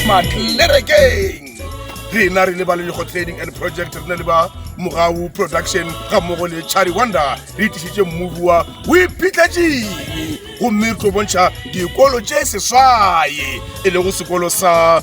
matlerekeng rena re le ba lelego trading and project re na le ba mogau production ga mmogo le charlie wonder re tlisitse mmovi wa o iphitlhatšeng gomme re tlo bontšha dikolo tše seswaye e lego sekolo sa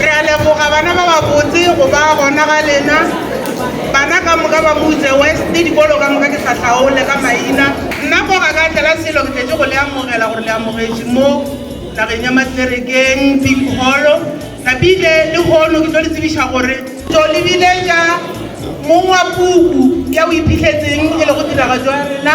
Re a leboga bana ba babotse go ba gona ga lena. Bana ka moka ba mo utse West, dikolo ka moka ke sa hlaole ka maina. Nna ko ga ka tlela selo ke tletše go le amogela gore le amogetše mo nageng ya Matlerekeng, Big Holo. Napile le hono ke tlo le tsebiša gore tlo le biletša mong wa puku ya o iphihletseng e lego tiragatšo ya rena.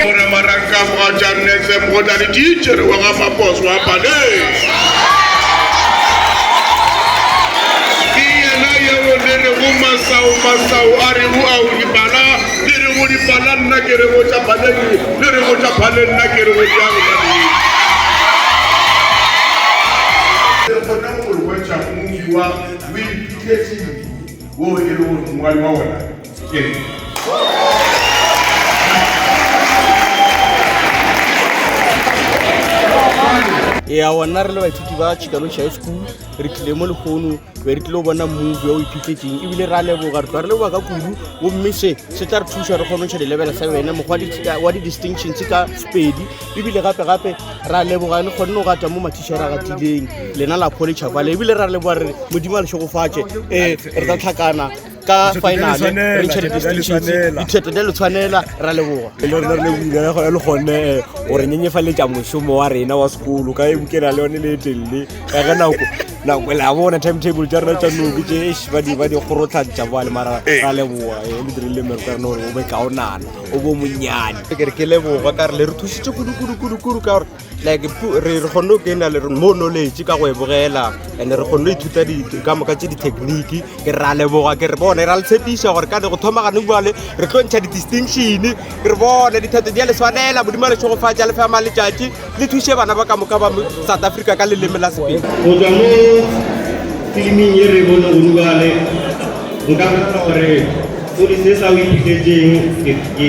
Gona marakago a Jarn FM go na le titšhere wa ga Mapos wa Paleng. Ke yena yeo le rego masao masao a re o ao dipala, le rego dipala nna ke rego tša Paleng, le rego tša Paleng nna ke rego tša go Paleng. Le kgone go re bontšha movie wa O Iphetetše Eng wo e lego gore mongwadi wa wona ya ona re le baithuti ba chicano high school re tlile mo lekgono be re tlile go bona move o iphitletseng ebile re a leboga re tla re leboga ka kudu gomme se se tla re thusa re kgone go tšha di-level sa wena mokgwa wa di-distinctions ka pedi ebile gape-gape re a leboga le kgonne go gata mo mathišara a gatileng lena la pholetšha kwale ebile re a leboga re modimo a le šogofatše um re tla tlhakana ka finale re tšhere distinctions diphetho di le tshwanela ra leboga e le gone eh, gore nyenyefaletša mošomo wa rena wa sekolo ka ebukela le yone le etelele ka ge nako nako le a bona timetable tša rena tša noke tše ba di ba di kgorotlhatša ba le mara eh. ra leboga e eh, le dirile mero ka rena gore o be kaonana o bo monnyane ke re ke leboga ka re le re thusitše kudu kudu kudu kudu ka gore like re re kgonne go kena le mo knowledge ka go e bogela and re kgonne go ithuta ka moka tse di-technique ke re a leboga ke re bone ra le tshepiša gore ka ne go thoma gane bale re tlo ntšha di-distinction ke re bone dithato di ya le swanela modimo le tšhogofatša le fema letšatši le thuše bana ba ka moka ba south africa ka leleme la sepedi go tswa mo filiming e re bone go dubale nka gore o di se sa o iphitletseng ke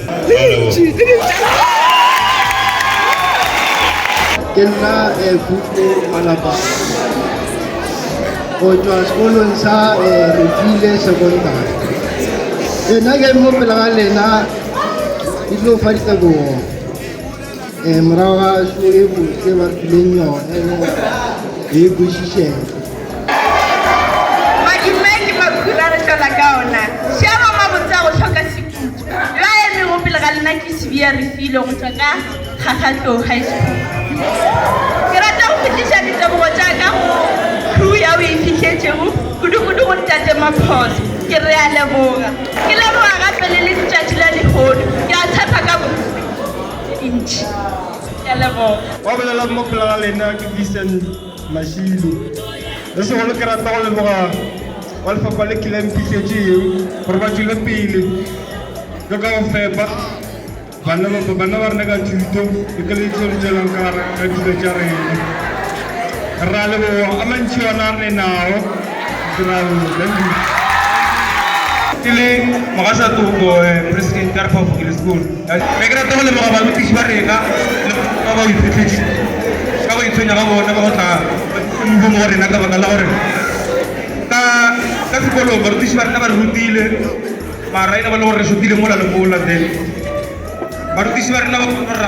ke nna eh, puku malapa go tšwa sekolong sa eh, refile secondary eh, nna ke mo pela ga lena ke tlo fa ditebogo um morago ga so e botse ba fileng yone e kwešišega Yo a emego pele ga lena ke Sibiya Refilwe go tšwa ka Kgakgatlou High School. Ke rata go fetiša ditebogo tša ka go crew ya o e fihletšego, kudu-kudu go Ntate Maphoso. Ke re a leboga. Ke leboga gape le le Letšatši la Lehono. Ke a tshepa ka bo ntši. Ke a leboga. Ba bolelago mo pele ga lena ke Vincent. Mashilo. Le segolo ke rata go leboga ba lefapha le kile mpišetše yeng gore ba tšwele pele le ka go fepa bana ba rena ka thuto le ka le tlo le tšwelang ka dilo tša rena. Ra leboga a mantši ona a re nago Israel. Ke le Mogasatopo, Presidente ya Repaboliki le Sekolo. Be ke rata go leboga barutiši ba rena le go ka ba boiphehletši ka go itshwenya ga bona ka go tla ka mohumo go rena ka baka la gore ka ka sekolong barutiši ba rena ba re rutile mara e le ba le gore re šotile mola le mola then barutiši ba rena ba kgona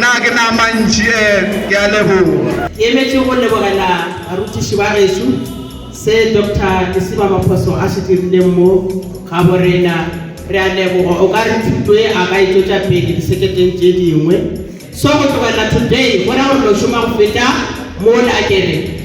Na ke na mantši e ke a leboga. Ke emetše go lebogela barutiši ba geso se Doctor Lesiba Maphoso a se dirileng mo gabo rena. Re a leboga. O ka re thuto ye a ka e tšwetša pele diseketeng tše dingwe. So go tlogela today go ra gore no šoma go feta mola. Ke re.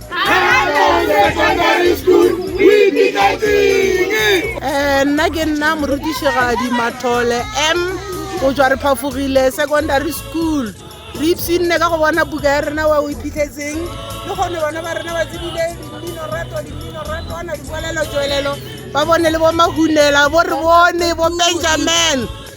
Eh, nna ke nna morutišegadi mathole m go tswa re phafogile secondary school re ipsinne ka go bona buka ya rena wa o iphitlhetseng le kgone bona ba rena ba tsebile dimminorato dimminorato ana dikwelelo tswelelo ba bone le bo mahunela bo re bone bo benjamin